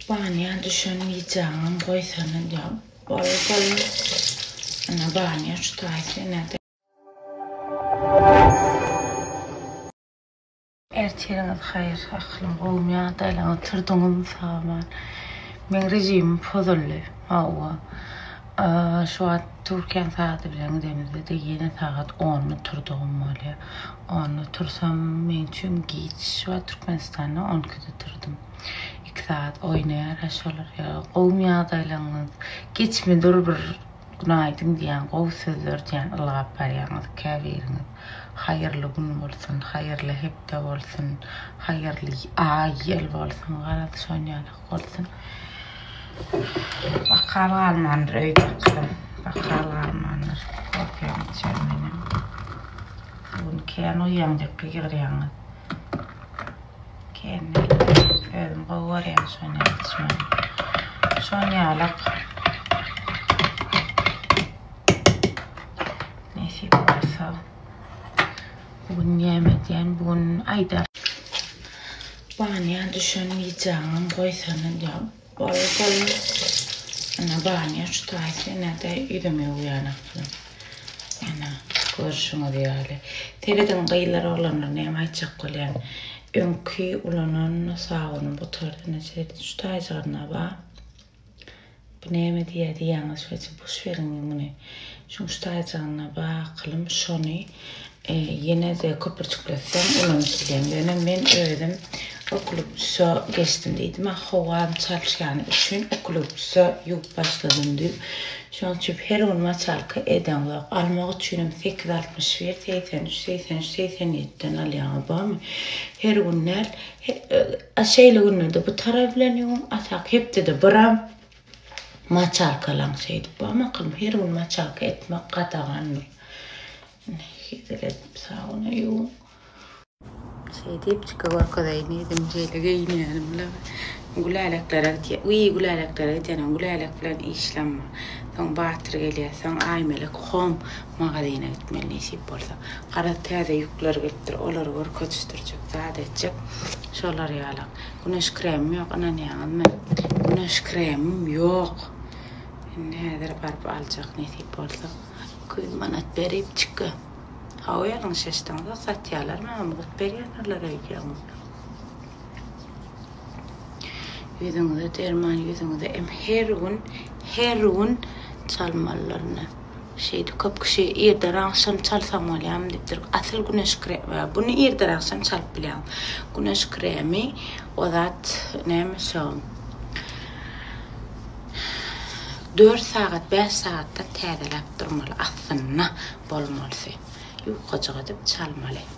Banya düşen widjaňam goýsana diýýär. Bol bol. Ana banya şu taýsyna. Ertiriňiz haýyr aklym gowmy ýa-da ýalan oturdyňyzmy sag bol. Meň rejimim pozuldy. Hawa. Şu wagt Türkiýäň sagady bilen gidemizde-de ýene sagat onda turdugym bolýar. Onda tursam meň üçin giç. Şu wagt Türkmenistanda on ikide turdum. Iki sagat oýnaýar-a şolar. Gowumy ýagdaýlaryňyz? Giçmi dur bir günaýdyn diýýän, gowy sözler diýýän ylgap barýaňyz käbiriňiz. Haýyrly gün bolsun, haýyrly hepde bolsun, haýyrly aý, ýyl bolsun. Garaz, şon ýaly. Bolsun. Bakal galmandyr öýde gyzym. Bakal galmandyr. Kofiýam içer menem. Bu gün kän uýaňjakka ýygyrýaňyz. Kän näme. Özüm gowy görýän şon ýaly içmegi. Şon ýalak. Nesip bolsa. Bu gün näme edýän? Bu gün aýdar. Banýa düşen widjaňam goýsana diýýär. Bolar bolar. Ene banýa şu taýsa ene-de ýüzümi ýuwýan aklym. Ene görşüňiz ýaly. Serediň gyzlar oglanlar näme aýtjak bolýan. Öňki ulanan sabunyň gutardy ene serediň şu taýjygyna ba. Bu näme diýýä diýýäňiz şeýce boş beriň muny şuňş taýjygyna bakylym şony ýenede köpürjikletseň ulanyp bileň ýöne men özüm okluptusa geçdim diýdim a howam çalyşýany üçin okluptusa ýuwup başladym düýp şoň üçin her gün maçalka edeňzok almak üçinem sekiz altmyş bir segsen üç segsen üç segsen ýedi den alýaňyz bormy her gün däl A şeýle günlerde bu tarap bilen ýuwuň, atak hepdede biram maçalkalaň şeýdip. Ba makalym her gün maçalka etmek gadagandyr. Ine hezil edip sabuna ýuwuň. Şeýdip çyka görkezeýin diýdim, şeýle geýinýänim bilen Güläleklere gitýä. Wiý, Güläleklere gidýänä Gülälek bilen işlenme. Soň Batyr gelýä, soň Aýmelek hom magazine gitmeli nesip bolsa. Garaz, täze ýükler gelipdir, olary görkezişdirjek, zat etjek. Şolar ýalak. Güneş kremim ýok, ynanýaňyzmy? Güneş kremim ýok! Indi häzir baryp aljak, nesip bolsa. Iki ýüz manat beripçikka. Hawa, ýalňyş eşitdiňizok, satýarlar, maňa mugt berýärdirler öýdýäňmi? Ýüzüňize derman, ýüzüňize em her gün, her gün çalmalylar ine. Şeýdip köp kişi irden-agşam çalsam bolýarmy diýipdir. Asyl güneş kremi, buny irden-agşam çalyp bilýäň. Güneş kremi o zat näme şo. Dört sagat, bäş sagatdan täzeläp durmaly, astynda bolmalysy. Ýukajyk edip çalmaly.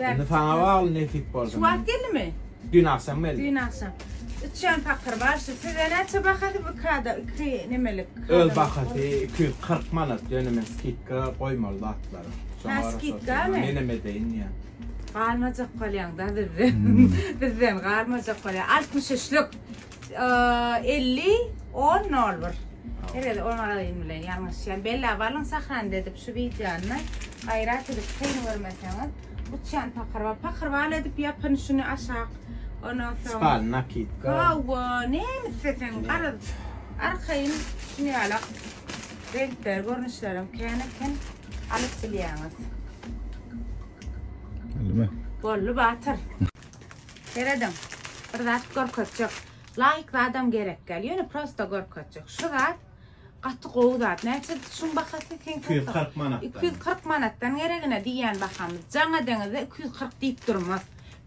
Indi saňa bagly nesip bolsa. Şu wagt geldimi? Dün agşam geldi. Dün agşam. Üçen pakyr bar şu. Size näçe bahasy bu kada? Iki nemelik. Öz bahasy 240 manat dönüme skidka goýmaly zatlar. Ha skidka mı? Menem edeýin ya. Galmajak galýaň da bizden. Hmm. bizden galmajak galýaň. 63 lük. elli on nol bir her gede on aralygyn bilen ýalňyşýan bella balyň sahran edip şu wideony gaýrat edip kyn görmeseňiz uçýan pakyrba pakyrbal edip ýapyn şuny aşak ondan soň spal nakitka hawa näme isleseň aryz arkaýyn şuny ýalak renkler görnüşlerim kän eken alyp bilýäňiz boldy batyr Serediň bir zat görkezjek. Laýk zadam gerek däl. Ýöne prosta görkezjek. Şu zat gaty gowy zat. Näçe şuň bahasy seň satyň? 240 manatdan. 240 manatdan geregine diýýän bahamyz. Jaňa deňizde 240 diýip durmaz.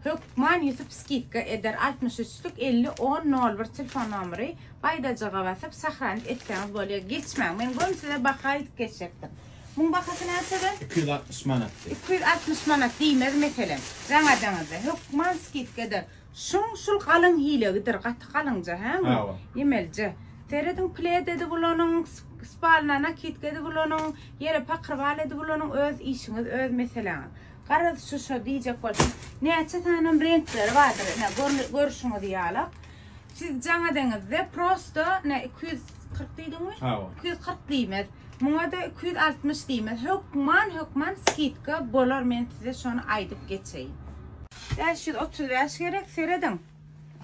Hökman Ýusup skidka eder. 63 luk 50 10 01 telefon nomeri. Baýdajyga basyp sahranyp etseňiz bolýar. Geçmäň. Men göni size baha aýdyp geçjekdim. Muň bahasy näçede? Iki ýüz altmyş manat. Iki ýüz altmyş manat diýmez meselem. Raňajaňyzda hökman skidkadyr. Şuň şul galyň hilegidir, gaty galyňja hä muň? Hawa. Ýemelije. Serediň pled edip ulanyň, spalna nakidka edip ulanyň, ýere pakrbal edip ulanyň, öz işiňiz, öz meseläňiz. Garaz şu-şo diýjek bolsaň, näçe sanam reňkleri bardyr, ine, görüşiňiz ýalak. Siz jaňa deňizde prosto ne iki ýüz kyrk diýdiňmi? Hawa. Iki ýüz kyrk diýmez. Muňa-da iki ýüz altmyş diýmez. Hökman, hökman skidka bolar, men size şony aýdyp geçeýin. Bäş ýüz otuz bäş gerek, serediň.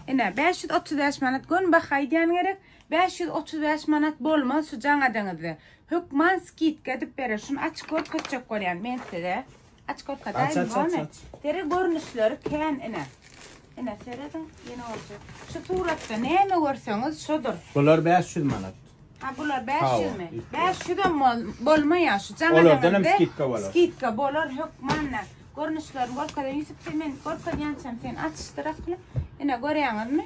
Ine, bäş ýüz otuz bäş manat göni baha aýdýan gerek. Bäş ýüz otuz bäş manat bolmaz şu jaňa deňizde. Hökman skidka edip berer. Şuny açyp görkezjek bolýan men size. Aç köke daýym gone. Sere görnüşleri kän ine. Ine serediň ýene bolsa. Şu suratda näme görseňiz şodur. Bular 500 manat. Ha bular 500 mi? 500 hem bolmaýar şu jaňa. Olardan hem skidka bolar. Skidka bolar hökmanda. Görnüşlerini görkezýän Ýusup sen men görkezýänçäm sen açyşdyrakly. Ine görýäňizmi?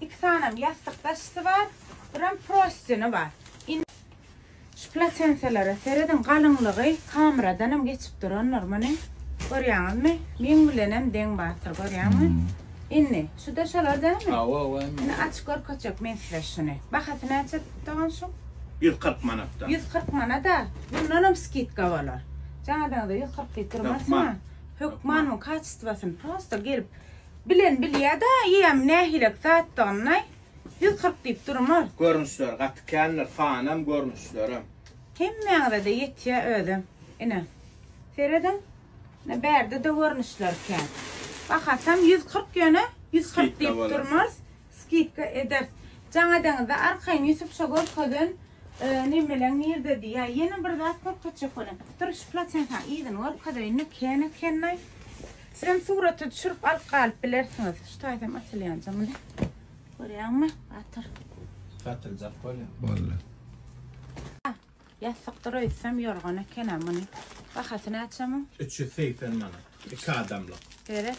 Iki sanam ýassyk daşysy bar, biram prostini bar. Şu platenselere serediň galyňlygy kameradanam geçip durandyr muny. Görýäňizmi? Meň bilenem deň bardyr görýäňmi? Indi şuda şolar dälmi? Hawa hawa indi. Indi açyp görkezjek men size şuny. Bahasy näçe dogan şuň? 140 manatdan. 140 manada bundanam skidka bolar. Jaň edeniňde 140 diýip durmasyňa. Hökmanmy kaçestwasyny prosta gelip Bilen bilýä-da eýäm nähilek zatdygyny, ýüz kyrk diýip durmaz. Görnüşleri gaty kändir, sanam, görnüşlerem. Hemmäňize-de ýetýä özi. Ine, serediň, ine bärde-de görnüşleri kän. Bahasam ýüz kyrk ýöne, ýüz kyrk diýip durmaz. Skidka eders. Jaň edeňizde arkaýyn Ýusup şo görkezen nemeleň nirdedi ýa ýene bir zat görkezjek ony. Dur şu platenkaň yzyny görkezeýin nekeýan ekenlaý. Sizem suraty düşürip alyp galyp bilersiňiz. Şu taýsam asylýanja muny. Görýäňmi? Gatyr. Gatyljak bolýa. Boldy. Ýassykdyr öýtsem ýorgan ekenä muny. Bahasy näçe muň? Üç ýüz segsen manat. Iki adamlyk. Seret.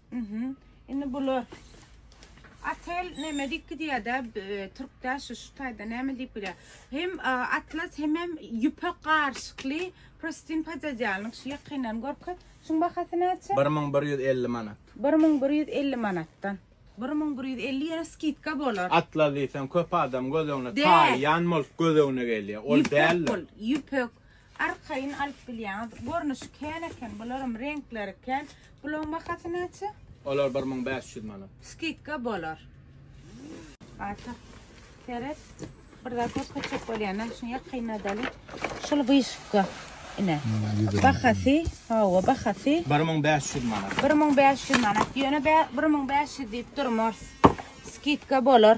Mhm. Indi bular Atel näme diýip gidýär-de, e, türkde şu şu taýda näme diýip bilýär. Hem e, atlas hemem ýüpek garyşykly prostin podýadýalnyk şu ýakyndan görke. Şuň bahasy näçe? 1150 manat. 1150 manatdan. 1150 ýere skidka bolar. Atlas diýseň köp adam göz öňüne Däl. taýýan bolup göz öňüne gelýär. Ol Ýüpek däldir. bol, ýüpek. Arkaýyn alyp bilýäňiz. Görnüşi kän eken bularam reňkleri kän. Bulaň bahasy näçe? Olar bir müň bäş ýüz manat. Skidka bolar. Ata seret. Bir zat görkezjek bolýanam şuny ýakynladaly. Şul wyşywka ine. Bahasy hawa bahasy. Bir müň bäş ýüz manat. Bir müň bäş ýüz manat. Ýöne bir müň bäş ýüz diýip durmarys. Skidka bolar.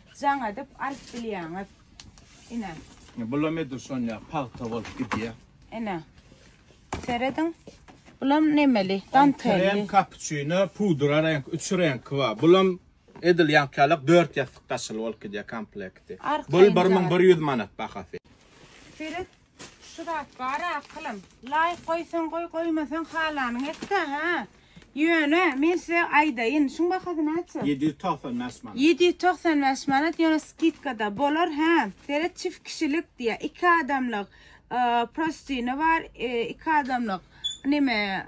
Jaň edip alyp bilýäňiz. Ine. Bulam edil şon ýa pagta bolup gidýä. Ine. Serediň. Bulam nemeli, dantelli. Krem, kapuçino, pudra reňk, üç reňki bar. Bulam edil ýankyýalak dört ýassyk daşyly bolup gidýä komplekti. Bul bir müň bir ýüz manat bahasy. Seret, Şu zat bar akylym. Laýk goýsaň goý, goýmasaň halanyňy et-de, hä? Ýöne, men size aýdaýyn, şuň bahasy näçe? 795 manat. 795 manat, ýöne skidka-da bolar, hä? Seret, çift kişilik diýýär, iki adamlyk prostini bar, iki adamlyk neme,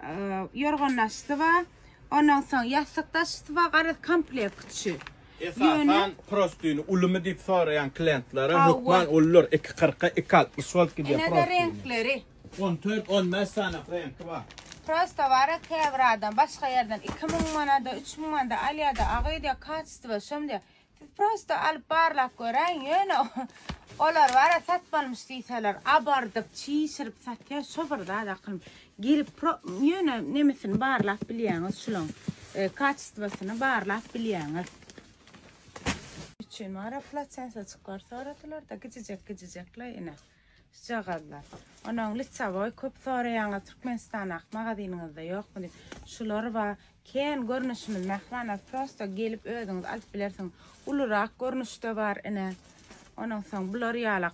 ýorgan daşysy bar, ondan soň ýassyk daşysy bar, garaz, komplekt üçin. Esasan, prostyny ulymy diýip soraýan klientlere hökman ulydyr, iki kyrka, iki altmyş wolt gidýär prostyny. Ine-de reňkleri. On dört, on bäş sany reňki bar. Prosta bar-a, käbir adam başga ýerden iki müň manada, üç müň manada alýar-da, aga öýdýär, kaçestwo şom diýýär. Siz prosta alyp barlap göräýiň, ýöne olar bar-a, satmalymyş diýseler, abardyp, çişirip satýar, şo bir zat akylly. Girip pro ýöne nemesini barlap bilýäňiz şulaň. E, kaçestwasyny barlap bilýäňiz. Üçin mara platensa çyklar soradylar da gijijek gijijekle ine. Şjagazlar. Onuň litsavoy köp soraýaňyz Türkmenistan ak magazynyňyzda ýokmy diýip. Şular ba ken görnüşimiz mähwana prosta gelip özüňiz alyp bilersiň. Ulurak görnüşde bar ine. Onuň soň bular ýalak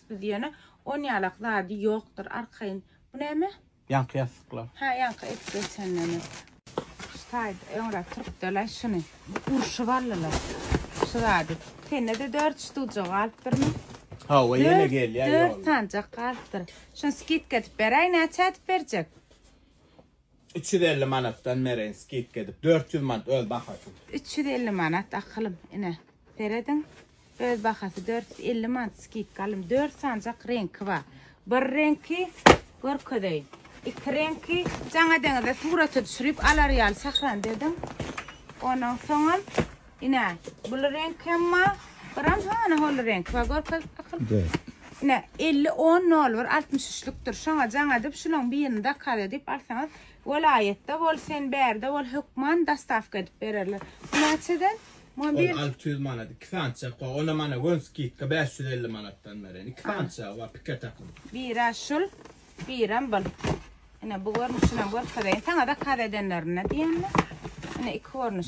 Biz ýöne on ýalak zady ýokdyr arkaýyn. Bu näme? Ýaňky ýassyklar. Hä ýaňky edip geçenlerimiz. Şu taýda öňräk turupdylaý şuny. Urşup aldylar. Şu zady. Sende-de dört ştuja galypdyrmy? Hawa ýene gelýär ýolda. Dört sanjak galypdyr. Şuny skidka edip beräý näçä edip berjek? Üç ýüz elli manatdan mereýin skidka edip, dört ýüz manat öz bahasy. Üç ýüz elli manat akylym, ine, serediň, öz bahasy dört ýüz elli manat skidka alym. Dört sanjak reňki bar. Bir reňki görkezeýin. Iki reňki jaň edeňizde surata düşürip alar ýaly sahranda ediň. Ondan soňam. Ine, bul reňk hem ma, biram hany hol reňk ba görkez akyl. De. Ine, 50 10 nol bir 63 lükdir. Şoňa jaň edip şulaň birini zakaz edip alsaňyz, welaýatda bol, sen bärde bol, hökman dostawka edip bererler. Bu näçeden? Muňa bir 600 manat, 2 sança ko, ona mana gön skidka 550 manatdan beren. 2 sança wa pike takyp. Bira şul, biram bul. Ine, bu görnüşini hem görkezeýin. Saňa zakaz edenlerine diýenler. Ine, iki görnüş.